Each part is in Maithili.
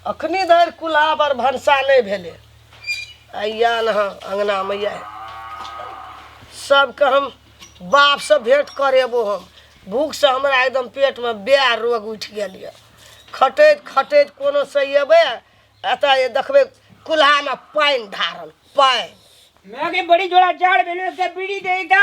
अखनी धरि कुल्हा पर भनसा नहि भेलै अइया अहाँ अङ्गनामे अइया सबके हम बापसँ भेँट करेबो हम भूखसँ हमरा एकदम पेटमे बे रोग उठि गेल यऽ खटैत खटैत कोनो से अयबै एतऽ देखबै कुल्हामे पानि धारल पानि मैंने बड़ी जोड़ा जाड़ बेलो से बीड़ी दे दा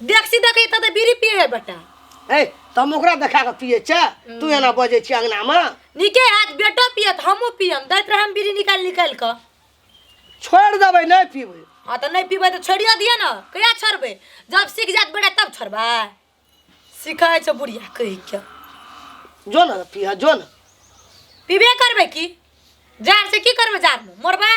देख सीधा कही तऽ बीड़ी पिए है बेटा ए तऽ हम ओकरा देखा कऽ पिए छै तू एना बजै छी अङ्गनामे नीके हाथ बेटो पियत हमहूँ पियम दैत रहम बीड़ी निकालि निकालि कऽ छोड़ि देबै नहि पीबै हाँ तऽ नहि पीबै तऽ छोड़ियो दिअ ने कहिया छोड़बै जब सीख जायत बेटा तब छोड़बै सिखै छै बुढ़िया कहि के जो ने पिह जो ने पीबे करबै की जाड़ से की करबै जाड़ में मरबै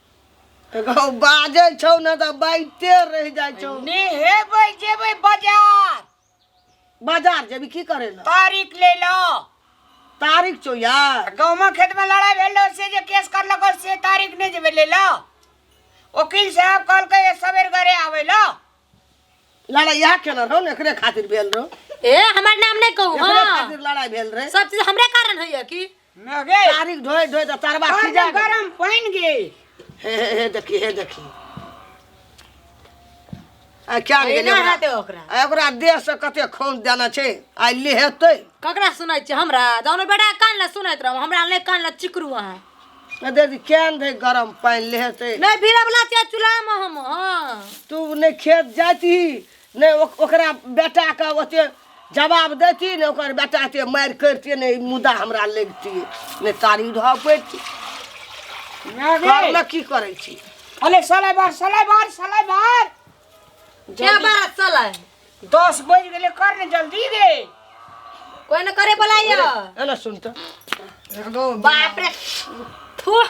एगो बाजै छौ ने तऽ बाइते रहि जाइ छौ नेहेबै जेबै बाजार बाजार जेबी की करे लए तारीख ले लो तारीख छौ यार गाँवमे खेतमे लड़ाइ भेल रहौ से जे केस करलको से तारीख नहि जेबै ले लो वकील साहब कहलकै ए सवेर घरे आबै लो लड़ाई इएह केने रहौ ने एकरे खातिर भेल रहौ ए हमर नाम नहि कहू एकरे हँ खातिर लड़ाई भेल रहै सब चीज हमरे कारण होइए की मैं गे तारीख ढोए ढोए तो तरवा और सीजा जब गया। गरम पानी गे हे हे हे देखी हे देखी आ क्या गेलै एना ओकरा? हेतै ओकरा आ ओकरा देह से कते खून देना छै आइ ले हेतै ककरा सुनै छियै हमरा जानो बेटा कान लए सुनैत रहू हमरा नहि कान लए चिकरू अहाँ आ देखी केहन दै गरम पानि ले हेतै नहि भीड़वला छियै चूल्हामे हम हँ तू नहि खेत जाती नहि ओ- ओकरा बेटाके ओते जवाब दैती ने ओकर बेटा एते मारि करितियै ने ई मुदा हमरा लगितियै नहि तारी धऽ पैती घरमे की करै छी अरे सलाइ बार सलाइ बार सलाइ बार क्या बात चला है दस बज गेले कर ने जल्दी रे कोई ना करे बुलाइयो एना सुन तऽ बाप रे थू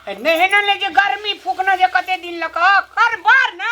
नहीं ना ले जे गर्मी फूकना जे कते दिन लक कर बार ना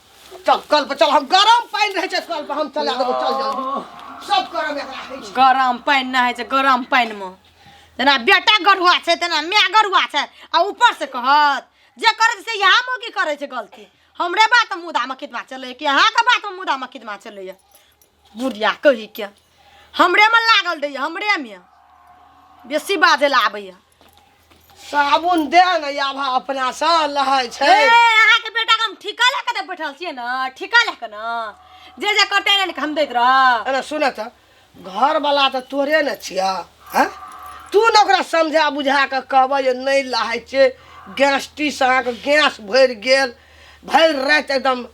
चल कल पर चल हम गरम पानी रहे छै कल पर हम चला देबो चल जल्दी सब गरम एकरा है छै गरम पानि ना होइ छै गरम पानि मे जेना बेटा गरुआ छै तेना माय गरुआ छै आ ऊपर से कहत जे करै छै से यहाँ मौकी करै छै गलती हमरे बात में मुदा मकिदमा चलैए कि अहाँके बात में मुदा मकिदमा चलैए बुढ़िया कही के हमरे में लागल रहैए हमरे में बेसी बाजै लए आबैए साबुन दे ने याभा अपना से लहै छै ए, अहाँके बेटाके हम ठीका लए कऽ तऽ बैठल छियै ने ठीका लए कऽ ने जे जे कटे ने हम दैत रह अरे सुन त घर वाला त तोरे ने छिया हैं तू ने ओकरा समझा बुझा के कहबे जे नहीं लहै छै गैस टी से अहाँके गैस भरि गेल भरि राति एकदम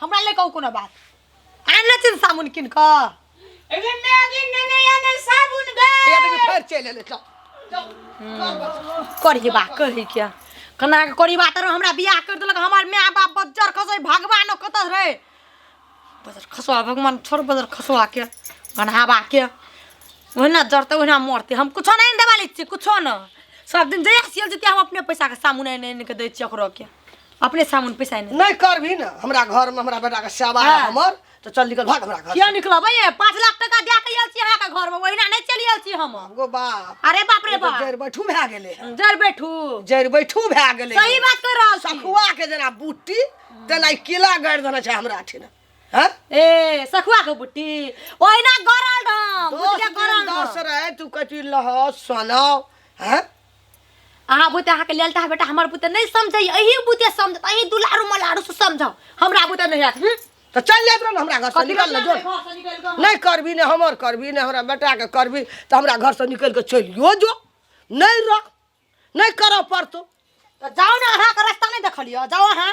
हमरा ले कहू कोनो बात आनले छी ने साबुन कीन कऽ एगो मैगी नेने या ने साबुन बे या देखियो फेर चलि एलै चल करी बा कही क्या कना के करी बा तर हमरा बियाह कर देलक हमर माय बाप बजर खसै भगवान कत रे बजर खसवा भगवान छोड़ बजर खसवा के गनहावा के ओहिना जरते ओहिना मरते हम कुछो नहीं देवाली छी कुछो न सब दिन जहिया सियल जेतिया हम अपने पैसा के सामुन एने एने के दै छी ओकरो के अपने सामान पैसा एने नहीं करबी ना हमरा घर में हमरा बेटा के सेवा है हाँ। हमर तो चल निकल भाग हमरा घर किया निकलब ये पाँच लाख टका दे के आयल छी अहाँ के घर में ओहिना नहीं चली आयल छी हम गो बाप अरे बाप रे बाप जर बैठू भए गेले है। जर बैठू जर बैठू भए गेले सही है। बात कर रहल छी सखुआ के जेना बुट्टी तेना किला गाड़ि देने छै हमरा अठिन हैं ए सखुआ के बुट्टी ओहिना गरल डम दस बुटिया दिन गरल दस डम रहे तू कथी लह सोनाओ हैं अहाँ बुते अहाँके लेल तऽ बेटा हमर बुते नहि समझैए अही बुते समझत अही दुलारू मलारू से समझाउ हमरा बुते नहि आयत हूँ तो चल जाए रहो हमरा घर से कथी निकल ना करना जो है? घर से निकल कऽ। नहीं करबी ने हमर करबी ने हमरा बेटा के करबी तो हमरा घर से निकल के चलियो जो नहीं रह नहीं करऽ पड़तो तऽ जाउ ने अहाँके रास्ता नहि देखलियै जाउ अहाँ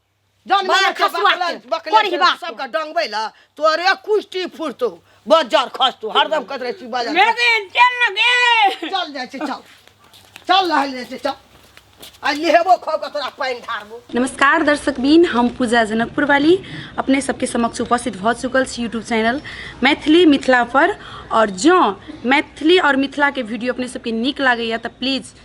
जन बड़ा में खसुआ के, बकले कोरी बा। सबका डंगबै ला तोरे कुष्टी फुरतो बजर खस तू हरदम कत रहे छी बजर मेरे दिन चल ना गे चल जाइ छै चल चल लहल जाइ छै चल आ लेबो खो के तोरा पानि ढारबो नमस्कार दर्शक बीन हम पूजा जनकपुर वाली अपने सबके समक्ष उपस्थित भऽ चुकल छी यूट्यूब चैनल मैथिली मिथिला पर और जँ मैथिली और मिथिला के वीडियो अपने सबके नीक लागैए तऽ प्लीज